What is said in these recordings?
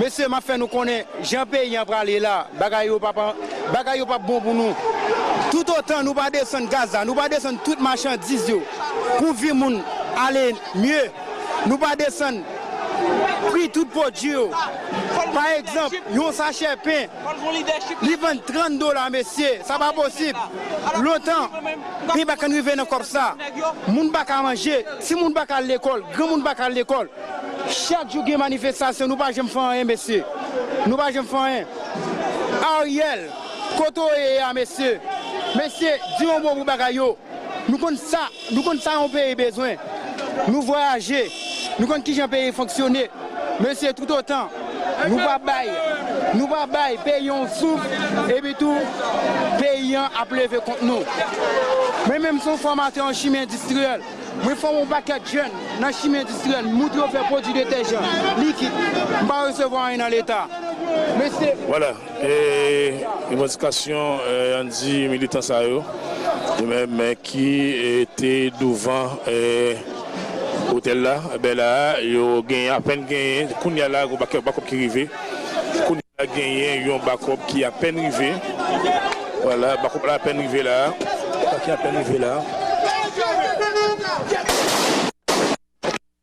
Mesye map fè nou konnen jan peyi an prale la bagay yo pap bagay yo pap bon pou nou tout otan nou pa desann gaz la nou pa desann tout machandiz yo pou vi moun ale mye nou pa desann pri tout pwodui yo pa egzanp yon sachè pen Li vann 30 dola mesye sa pa posib lontan peyi pa kan rive nan kòb sa moun pa ka manje ti moun pa ka al lekòl gran moun pa ka al lekòl chak jou gen manifestasyon nou pa janm fè anyen mesye nou pa janm fè anyen Ariel kote w ye a mesye mesye di yon mo pou bagay yo. Nou konn sa nou konn sa yon peyi bezwen. Nou vwayaje, nou konn kijan peyi fonksyone. Mesye toutotan nou pa bay nou pa bay peyi yon souf epi tou peyi an ap leve kont nou. Mwen menm se yon fòmatè an chimi endistriyèl. Mwen fòme yon pakèt jèn nan chimi endistriyèl. M montre yo fè pwodui detèjan, likid. M pa resevwa anyen nan leta. Mesye. Vwala. E revandikasyon an di militan sa yo men ki te douvan otèl la bè la a yo genyen apèn genyen kounya la yon bakòp ki rive kounya la genyen yon bakòp ki apèn rive wala bakòp la apèn rive la a ki apèn rive la a.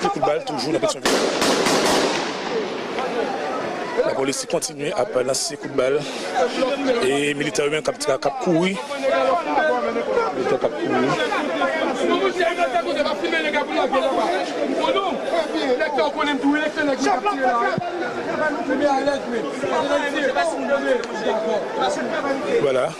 Ti kout bal toujou nan Petyonvil. Lapolis kontinye ap lanse kout bal e militan yo menm kap kouri.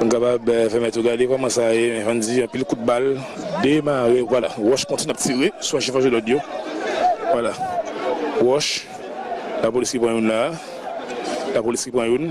Nou kapab fè mèt yo gade kòman sa ye, men van di anpil kout bal demare. Vwala, wòch kontinye ap tire sou achi fòselòd yo. Vwala, wòch, lapolis ki pran youn la a. Lapolis ki pran youn.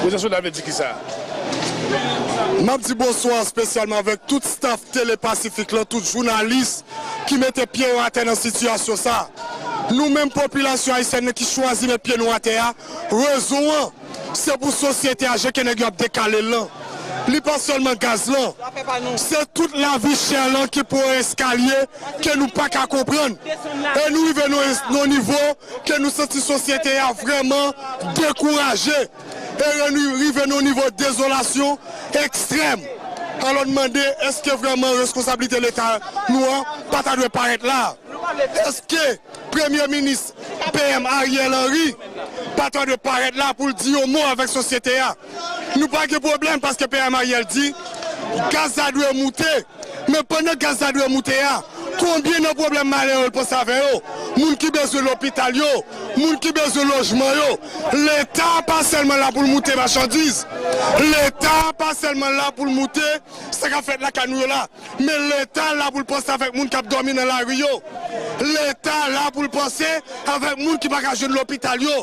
Bonjou nou la Map di bonswa spesyalman avèk tout staff tele pasifik lan tout jounalis ki mete pye yo atè nan sitiyasyon sa a. Nou menm popilasyon ayisyèn nan ki chwazi met pye nou atè a, rezon an, se pou sosyete a je ke nèg yo ap dekale l lan. Li pa sèlman gaz lan, se tout lavi chè lan ki pran yon eskalye ke nou pa ka konprann. E nou rive nan yon nivo ke nou santi sosyete a vrèman dekouraje. Eren li rive nan yon nivo dezolasyon ekstrèm. Alò n mande èske vrèman reskonsablite Leta nou an pa ta dwe parèt la? Èske Premye Minis PM Ariel Henry pa ta dwe parèt la pou l di yon mo avèk sosyete a? Nou pa gen pwoblèm paske PM Ariel di gaz la dwe moute. Men pandan gaz la dwe moute a, konbyen nan pwoblèm malè yo l panse avè yo, moun ki bezwen lopital yo, moun ki bezwen lojman yo? Leta pa sèlman la pou l moute machandiz, Leta pa sèlman la pou l moute sa k ap fèt lakay nou yo la, men Leta la pou l panse avèk moun k ap dòmi nan lari yo, Leta la pou l panse avèk moun ki pa ka jwenn lopital yo,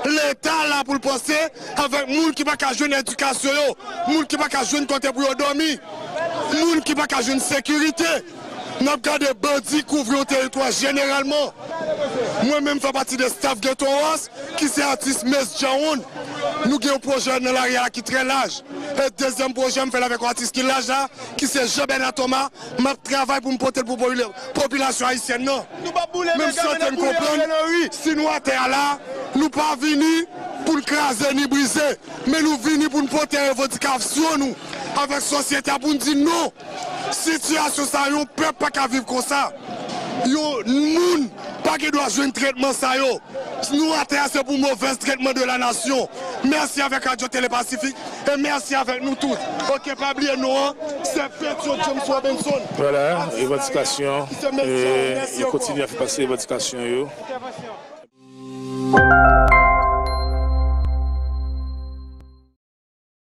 Leta la pou l panse avèk moun ki pa ka jwenn edikasyon yo, moun ki pa ka jwenn kote pou yo dòmi. Moun ki pa ka jwenn sekirite n ap gade bandi kouvri yon teritwa jeneralman. Mwen menm m fè pati de staf Geto Wars ki se atis Mes Djawoun. Nou gen yon pwojè nan lari a ki trè laj. E dezyèm pwojè m fè l avèk yon atis ki laj la ki se Jean Bernard Thomas m ap travay pou m pote l pou popilasyon ayisyèn nan. Men m swete n konprann si nou atè a la nou pa vini pou n kraze ni brize men nou vini pou n pote revandikasyon nou. avèk sosyete a pou n di non sitiyasyon sa yon pèp pa ka viv konsa yon moun pa gen dwa jwenn tretman sa yo nou atè a se pou movèz tretman de la nasyon mèsi avèk radyo tele pasifik e mèsi avèk nou tout ok pa bliye non an se petyon james robinson Vwala revandikasyon yo kontinye ap fè pase revandikasyon yo.